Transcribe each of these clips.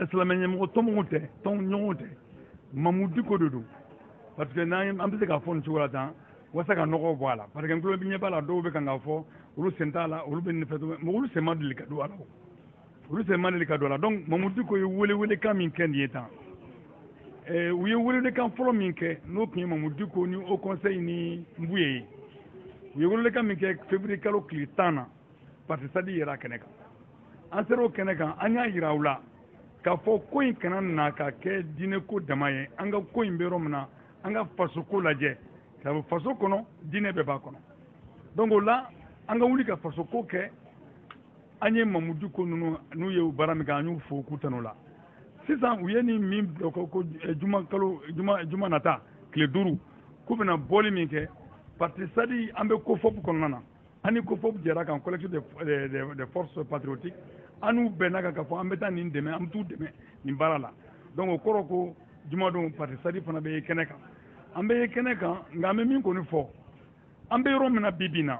silamɛ ɲɛmɔgɔ tɔnmɔgɔw tɛ tɔn ɲɔgɔnw tɛ mamu diko de don parce que n'an an bɛ se k'a fɔ nin cogo la tan walasa ka nɔgɔw bɔ a la parce que n tulo bɛ ɲɛ b'a la dɔw bɛ kan k'a fɔ olu sen t'a la olu bɛ nin fɛ mais olu sen ma deli ka don a la olu sen ma deli ka don a la donc mamu diko ye welewelekan min kɛ nin ye tan eh, u ye welewelekan fɔlɔ min kɛ n'o tun ye mamu diko ni haut conseil ni nbuye ye u ye welewelekan min kɛ février kalo tile tan na parti sadi yera kɛnɛ kan an sera o kɛnɛ kan an y'a yira u la k'a fɔ ko in kana na ka kɛ diinɛko dama ye an ka ko in bɛ yɔrɔ min na an ka fasoko lajɛ sabu faso kɔnɔ diinɛ bɛɛ b'a kɔnɔ donc o la an ka wuli ka fasoko kɛ an ye mamu diko ninnu n'u ye baara min kɛ an y'u fo k'u tanu la sisan u ye nin min bila ko ko eh, juma kalo juma juma nata tile duuru k'u bɛna bɔli min kɛ parti sadi an bɛ kofɔp kɔnɔna na an ni kofɔp jɛra a kan collectif de, de, de, des forces patriotiques an n'u bɛnna a kan k'a fɔ an bɛ taa nin dɛmɛ an bɛ t'u dɛmɛ nin baara la donc o kɔrɔ ko jumadon parti sadi fana bɛ ye kɛnɛ kan an bɛ ye kɛnɛ kan nka an bɛ min kɔni fɔ an bɛ yɔrɔ min na bi bi na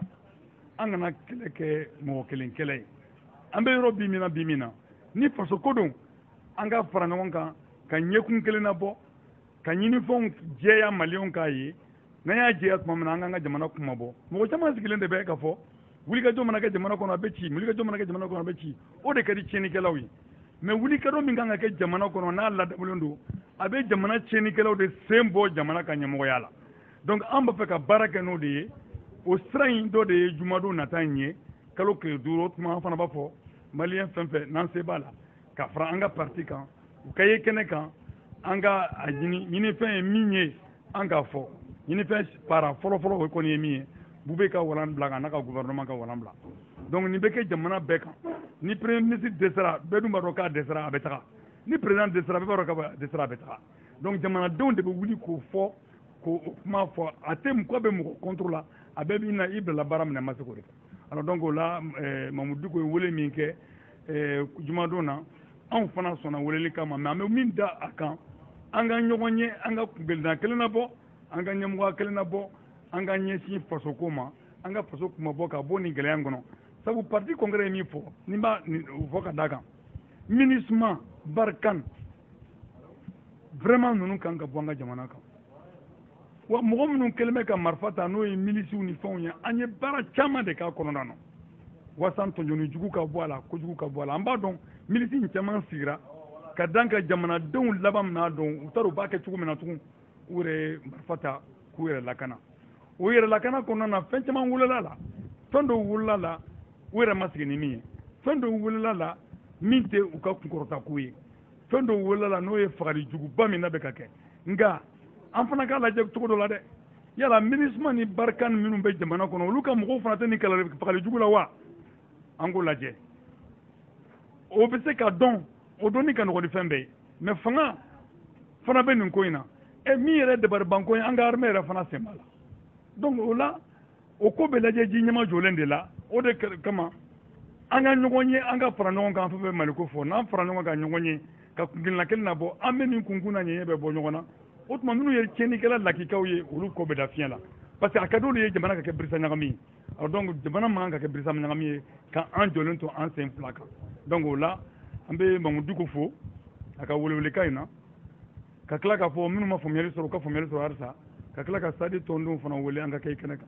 an kana kɛlɛ kɛ mɔgɔ kelen kɛlɛ ye an bɛ yɔrɔ bi min na bi min na ni faso ko don an ka fara ɲɔgɔn kan ka ɲɛkun kelen nabɔ ka ɲinifɛnw jɛya maliyɛnw k'a ye n'an y'a jɛya tuma min na an k'an ka jamana kunmabɔ mɔgɔ caman sigilen de bɛ k'a fɔ wulikajɔ mana kɛ jamana kɔnɔ a bɛ ci wulikajɔ mana kɛ jamana kɔnɔ a bɛ ci o de ka di tiɲɛnikɛlaw ye mais wulikajɔ min kan ka kɛ jamana kɔnɔ n'a ladamulen don a bɛ jamana tiɲɛnikɛlaw de sen bɔ jamana ka ɲɛmɔgɔya la donc an b'a fɛ ka baara kɛ n'o de ye o sira in dɔ de ye jumadon nata in ye kalo tile duuru o tuma an fana b'a fɔ maliyɛn fɛn fɛn n'a se b'a la ka fara an ka parti kan u ka ye kɛnɛ kan an ka a ɲini ɲinifɛn ye min ye an k'a fɔ ɲinifɛn para fɔlɔfɔlɔ o kɔni ye min ye bube ka walan bila ka n'a ka gouvernement ka walan bila donc nin bɛ kɛ jamana bɛɛ kan ni premier ministre dɛsɛra bɛɛ dun b'a dɔn k'a dɛsɛra a bɛ taga ni président dɛsɛra bɛɛ b'a dɔn k'a dɛsɛra a bɛ taga donc jamanadenw de bɛ wuli k'o fɔ ko o kuma fɔ a tɛ mɔgɔ bɛ mɔgɔ contre la a bɛɛ b'i na i bilala baara min na i ma se k'o de fɔ alors donc o la eh, mamu diko ye wele min kɛ eh, jumadon na anw fana sɔnna welelikan ma mais an bɛ min da a kan an ka ɲɔgɔn ye an ka kuntilenna kelen nabɔ an ka ɲɛmɔgɔya kelen nabɔ an ka ɲɛsin fasoko ma an ka faso kunmabɔ ka bɔ nin gɛlɛya kɔnɔ sabu parti congrès ye min fɔ n'i b'a fɔ ka da kan minusma barkhane vraiment ninnu kan ka bɔ an ka jamana kan wa mɔgɔ minnu kɛlen bɛ ka marifa ta n'o ye milisiw ni fɛnw ye an ye baara caman de k'a kɔnɔna na walasa tɔɲɔni jugu ka bɔ a la kojugu ka bɔ a la an b'a dɔn milisi in caman sigira ka dan ka jamanadenw laban min n'a dɔn u t'a dɔn u b'a kɛ cogo min na tugun u yɛrɛ ye marifa ta k'u yɛrɛ lakana u yɛrɛ lakana kɔnɔna na fɛn caman wolola la fɛn dɔw wolola la u yɛrɛ ma sigi ni min ye fɛn dɔw wolola la min tɛ u ka kunkɔrɔta ko ye fɛn dɔw wolola la n'o ye fagali juguba min na bɛ ka kɛ nka an fana k'a lajɛ cogo dɔ la dɛ yala minusma ni barkhane minnu bɛ jamana kɔnɔ olu ka mɔgɔw fana tɛ nin fagali jugu la wa an k'o lajɛ o bɛ se ka dɔn o dɔnni ka nɔgɔn ni fɛn bɛɛ ye mais fanga fana bɛ nin ko in na e min yɛrɛ dabaribanko ye an ka armée yɛrɛ fana sen b'a la donc o la o ko bɛ lajɛ ji ɲɛmajɔlen de la o de kama an ka ɲɔgɔn ye an ka fara ɲɔgɔn kan fɛn fɛn maliko fo n'an fara ɲɔgɔn kan ɲɔgɔn ye ka kunkelenna kelen na bɔ an bɛ nin kunkun n'a ɲɛɲɛ bɛɛ bɔ ɲɔgɔn na o tuma minnu ye tiɲɛnikɛla lakikaw ye olu ko bɛ da fiɲɛ la parce que a ka di olu ye jamana ka kɛ birisa ɲagami ye alors donc jamana man kan ka kɛ birisa ɲagami ye ka an jɔlen to an sen fila kan donc o la an bɛ mahmoud dicko fo a ka welewelekan in na ka tila k'a fɔ minnu ma faamuyali sɔrɔ u ka faamuyali sɔrɔ halisa ka tila ka sadi tɔndenw fana wele an ka kɛ i kɛnɛ kan